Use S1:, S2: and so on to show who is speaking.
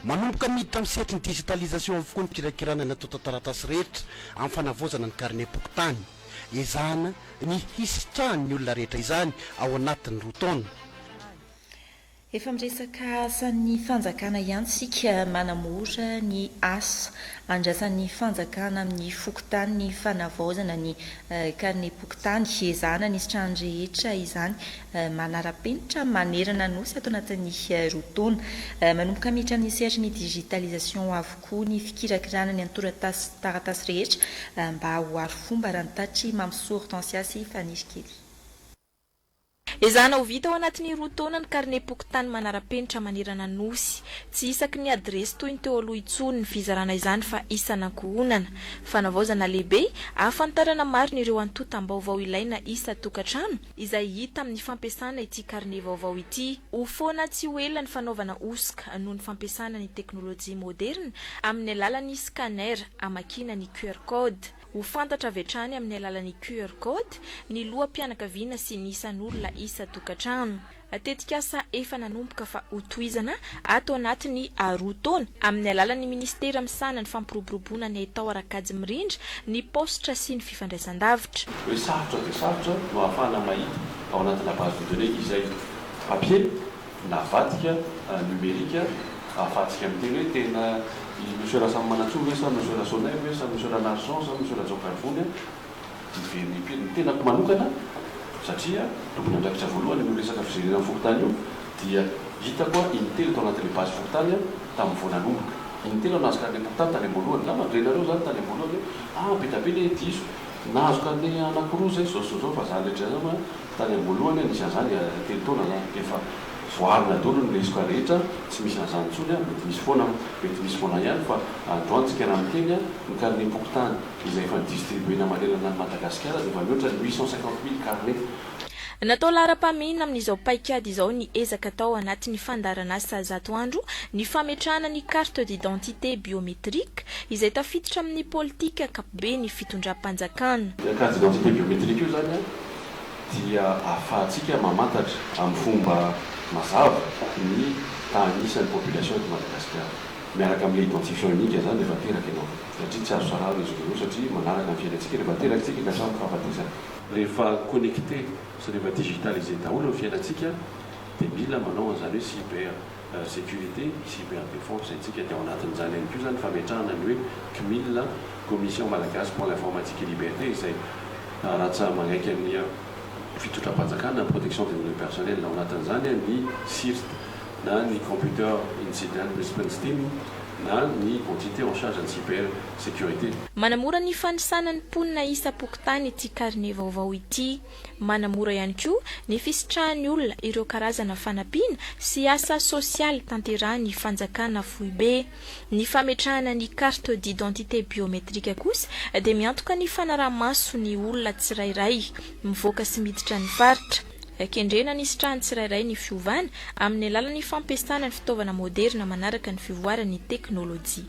S1: Manomboka miditra amin'ny sehatry ny digitalisation avokoa ny fikirakirana ny antontan-taratasy rehetra amin'ny fanavaozana ny karimem-pokontany. Ezahana ny hisitrahan'ny olona rehetra izany ao anatin'ny roa taona.
S2: Efa miresaka asan'ny fanjakana ihany isika manamora ny asa andrasan'ny fanjakana amin'ny fokontany ny fanavaozana ny karnem-pokontany. Ezahana ny hisitrahan'ny rehetra izany manara-penitra manerana ny Nosy ato anatin'ny roa taona. Manomboka miditra amin'ny sehatry ny digitalisation avokoa ny fikirakirana ny antorataratasy rehetra mba ho arofomba raha ny tatry Mampisoa Hortensia sy Fanirikely. Ezahana
S3: ho vita ao anatin'ny roa taona ny karnem-pokontany manara-penitra manerana ny Nosy. Tsy isaky ny adiresy toy ny teo aloha intsony ny fizarana izany fa isan'ankohonana. Fanavaozana lehibe, ahafantarana marina ireo antontam-baovao ilaina isan-tokantrano, izay hita amin'ny fampiasana ity karne vaovao ity. Ho foana tsy ho ela ny fanaovana hosoka noho ny fampiasana ny teknolojia moderina amin'ny alalan'ny scanner hamakiana ny QR code. Ho fantatra avy hatrany amin'ny alalan'ny QR Code ny loham-pianakaviana sy ny isan'olona isan-tokantrano. Tetikasa efa nanomboka fa hotohizana ato anatin'ny roa taona amin'ny alalan'ny Minisitera misahana ny fampiroboroboana ny haitao ara-kajy mirindra ny paositra sy ny fifandraisandavitra. Hoe sarotra dia
S4: sarotra no ahafahana mahita ao anatina base de données izay ampiana. Navadika numerique avadika amin'ny teny hoe tena i Monsieur Rasamimanantsoa ve sa Monsieur Rasonay ve sa Monsieur Ranarison sa Monsieur Rajaokarivony dia very ny mpiry. Ny tenako manokana satria tompon'andraikitra voalohany amin'io resaka fijerena ny fokontany io dia hitako aho in-telo tao anatin'ilay base fokontany tamin'ny vao nanomboka. In-telo nahazo carnet fokontany tany am-boalohany. Angamba nire nareo izany tany am-boalohany hoe ah be dia be ilay diso Nahazo cadet anaky roa zay zao zao fa zany rehetra zany a tany amboalohany a nisy anzany dia telo taona zany dia efa voarina daholo ny lesoka rehetra tsy misy anzany tsony a mety misy foana mety misy foana ihany fa androany tsika raha miteny a ny carnet pokontany izay efa ny distribuena manerana ny Madagasikara dia efa mihoatra ny huit cent cinquante mille carnet. Natao
S3: laharam-pahamehana amin'izao paikady izao ny ezaka atao anatin'ny fandaharan'asa zato andro ny fametrahana ny carte d'identité biométrique izay tafiditra amin'ny politika be ny fitondram-panjakana. Io carte d'identité
S4: biométrique io izany dia ahafahantsika mamantatra amin'ny fomba mazava ny tahan'isa ny population eto Madagasikara. Miaraka amin'ilay identifiant unique izany rehefa teraka ianao satria tsy azo sarahana izy roa ireo satria manaraka ny fiainantsika rehefa teraka isika ka samy fahafatesana. Rehefa connecté sy rehefa digitalisé daholo ny fiainantsika dia mila manao an'izany hoe cyber. sécurité, cyber défense, ntsika dia ao anatin'izany ihany koa izany fametrahana ny hoe Cmil, Commission Malagasy pour l'Informatique et Liberté, izay rhatsa magaiky amin'ny fitondram-panjakana, protection des données personnelles, ao anatin'izany ny CIRT na ny Computer Incident Response Team na ny entité en charge ny cyber sécurité. Manamora ny
S3: fanisana ny mponina isa-pokontany ity karine vaovao ity. Manamora ihany koa ny fisitrahan'ny olona ireo karazana fanampiana sy asa sosialy tanterahin'ny fanjakana foibe. Ny fametrahana ny carte d'identité biométrique kosa dia miantoka ny fanaraha-maso ny olona tsirairay mivoaka sy miditra ny faritra. Kendrena ny hisitrahan'ny tsirairay ny fiovana amin'ny alalan'ny fampiasana ny fitaovana moderina manaraka ny fivoaran'ny teknolojia.